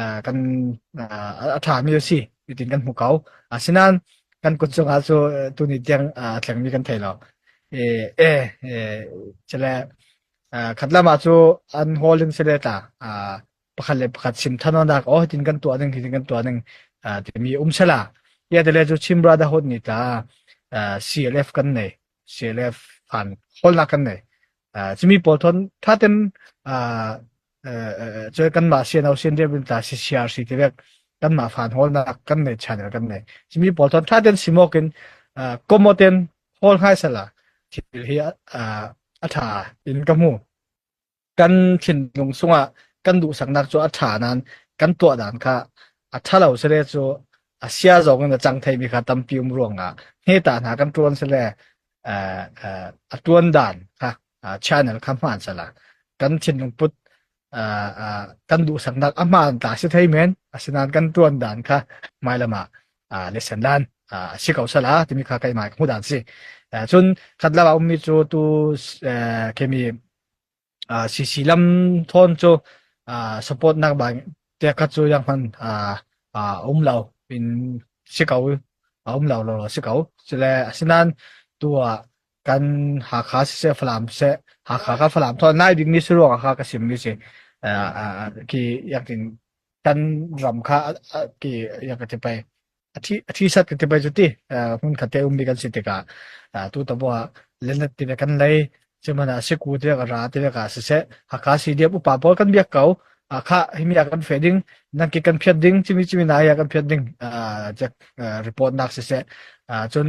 ah, kan ah, a ṭhami a si hitin kan hmu ko. Asinain kan kut cungah cu eh, tuni tiang ah, thlengmi kan thei lo. E, e, e, cele, ah, khat lamah cu an hawling sele ta ah, pakhat le pakhat sim thanonak o hitin kan tuah ning hitin kan tuah ning ah, timi umsela ia tele cu Chin Brotherhood ni ta ah, CLF kan nei CLF fan holnak kan nei Ah, cumi pawl thon thaten ah, cu kanmah siano sin rian ta si siar si ti vek kanmah fan holnak kan nei channel kan nei simi paul thon tha ten simokin in komoten hol hai sala thil hi a tha in ka mu kan thin lung sunga kan du saknak chu a tha nan kan tua dan kha a thalo sele chu asia zong in a chang thei mi kha tampi um ruanga he ta na kan tuan sele a tuan dan kha channel kha hmaan sala kan thinlung put kan duhsaknak a hmaan ta si thei men asinain kan tuan dan kha mai lama lesen lan si ko sala timi kha kai mai mu dan si cun khat lawa ummi cu tu kemi CC lam thon cu support nak ba te khat cu yang man um lo in si ko um lo lo si ko sile asinain tua kan Hakha siseh Falam siseh Hakha kan Falam thawn nai dingmi si ruang Hakha ka simmi si uh, uh, ki yak in kan ram kha uh, uh, ki yak ka tipai athi athi sat ka tipai chuti uh, mun khatte ummi kan si tikah uh, tu taboa lenat tile kan lei chimana siku te ka ra te ka siseh Hakha si dia upa po kan biak kau uh, kha himi kan fe ding nangki kan phiat ding chimi chimi na ya kan phiat ding uh, jak uh, report nak siseh uh, cun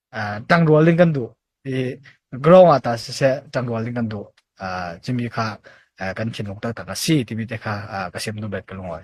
tangrual ding kan duh i ground ah tah siseh tangrual ding kan duh cimi kha kan thinlung taktak a si timi te kha ka sim duh bet ka lungawi.